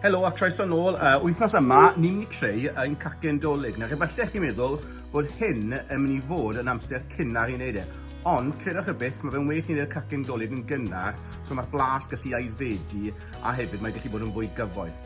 Helo a croeso nôl. Uh, wythnos yma, ni'n mynd i creu ein cacen dolyg. Nawr, efallai chi'n meddwl bod hyn yn mynd i fod yn amser cynnar i wneud e. Ond, credwch y beth, mae fe'n well ni'n gwneud cacen dolyg yn gynnar, so mae'r blas gallu aeddfedu, a hefyd mae gallu bod yn fwy gyfoeth.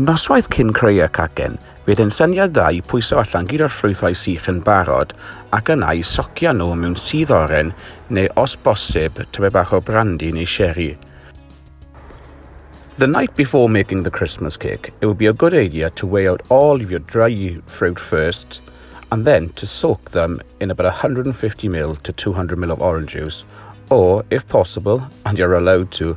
Noswaith cyn creu y cacen, fydd yn syniad dda i pwyso allan gyd o'r ffrwythau sych yn barod ac yna i socio nhw mewn sudd oren neu os bosib type bach o brandi neu sheri. The night before making the Christmas cake, it would be a good idea to weigh out all of your dry fruit first and then to soak them in about 150ml to 200ml of orange juice or, if possible, and you're allowed to,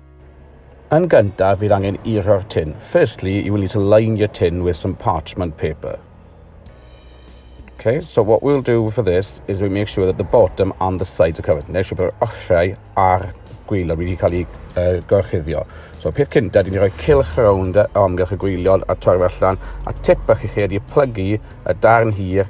Yn gyntaf fydd angen eirio'r tin. Firstly, you will need to line your tin with some parchment paper. Okay, so what we'll do for this is we make sure that the bottom and the sides are covered. Neu siw bod yr ochrau a'r gwylod wedi cael ei uh, gorchuddio. So peth cyntaf, dyn ni rhoi cilch rownd o amgylch y gwylod a torfa allan, a tip bach i chi ydy plygu y darn hir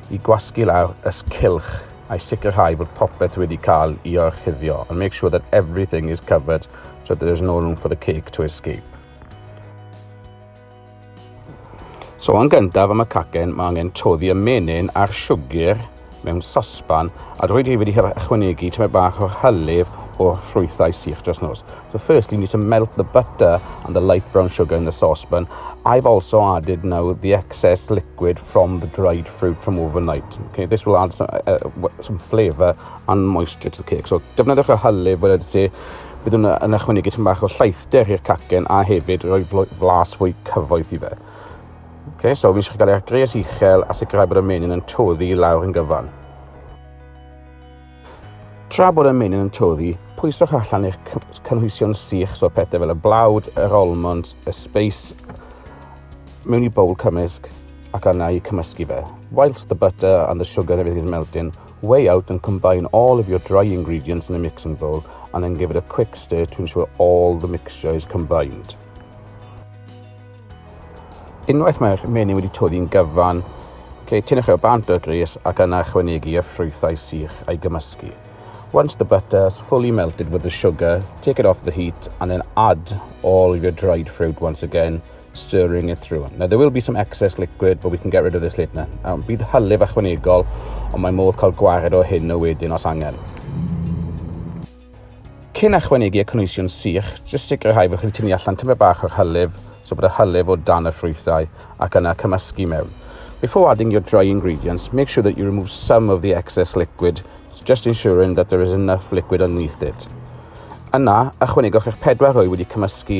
i gwasgu lawr ys cylch I sicrhau bod popeth wedi cael i orchuddio and make sure that everything is covered so there is no room for the cake to escape. So yn gyntaf am y cacen mae angen toddi y menyn a'r siwgr mewn sosban a rwy'n wedi ychwanegu tymed bach o'r hylif o'r ffrwythau sych dros nos. So first you need to melt the butter and the light brown sugar in the saucepan. I've also added now the excess liquid from the dried fruit from overnight. Okay, this will add some, uh, uh some flavour and moisture to the cake. So defnyddiwch y hylif fel ydy si, bydd yn, yn ychwanegu tyn bach o llaethder i'r cacen a hefyd rhoi flas fwy cyfoeth i fe. Okay, so fi eisiau cael ei agres uchel a sicrhau bod y menyn yn toddi lawr yn gyfan. Tra bod y menyn yn toddi, pwyswch allan eich cynhwysion sych, so pethau fel y blawd, yr almond, y speis, mewn i bowl cymysg ac arna i cymysgu fe. Whilst the butter and the sugar and everything is melting, weigh out and combine all of your dry ingredients in a mixing bowl and then give it a quick stir to ensure all the mixture is combined. Unwaith mae'r menyn wedi toddi'n gyfan, lle tynnu'ch e o bant o'r gres ac yna chwynegu y ffrwythau sych a'i gymysgu. Once the butter has fully melted with the sugar, take it off the heat and then add all of your dried fruit once again, stirring it through. Now there will be some excess liquid but we can get rid of this later. Now, bydd hylif ychwanegol ond mae modd cael gwared o hyn o wedyn os angen. Cyn ychwanegu y cynhwysion sych, jyst sicrhau fod chi wedi tynnu allan tymed bach o'r hylif, so bod y hylif o dan y ffrwythau, ac yna cymysgu mewn. Before adding your dry ingredients, make sure that you remove some of the excess liquid, just ensuring that there is enough liquid underneath it. Yna, ychwanegwch eich pedwar rwy wedi cymysgu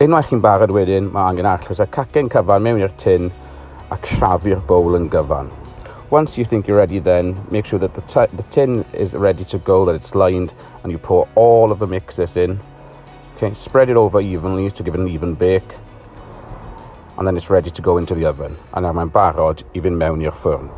Unwaith chi'n barod wedyn, mae angen arllwys a cacen cyfan mewn i'r tin a crafu'r bowl yn gyfan. Once you think you're ready then, make sure that the, the tin is ready to go, that it's lined, and you pour all of the mixes in. Okay, spread it over evenly to give it an even bake. And then it's ready to go into the oven. A nawr mae'n barod i fynd mewn i'r ffwrn.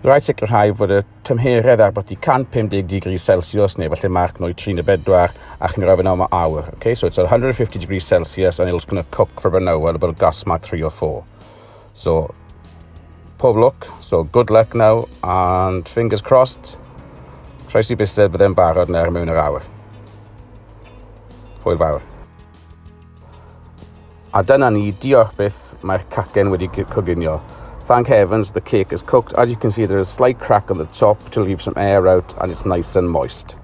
Rhaid sicrhau fod y tymheredd ar byti 150 degrees Celsius neu falle marc nwy trin y bedwar a chi'n rhaid yn am awr. Okay, so it's 150 degrees Celsius and it's going to cook for an hour, about gas mark 3 or 4. So, pob look, so good luck now and fingers crossed, croesi busted byddai'n barod nawr mewn yr awr. Hwyl fawr. A dyna ni, diolch byth, mae'r cacen wedi coginio. Thank heavens the cake is cooked. As you can see there is a slight crack on the top to leave some air out and it's nice and moist.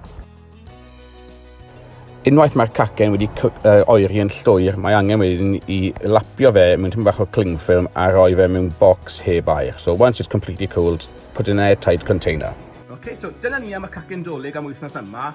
Unwaith mae'r cacen wedi uh, oeri yn llwyr, mae angen wedyn i lapio fe mewn tymor bach o cling film a roi fe mewn box heb air. So once it's completely cooled, put in an airtight container. Okay, so dyna ni am y cacen dolyg am wythnos yma.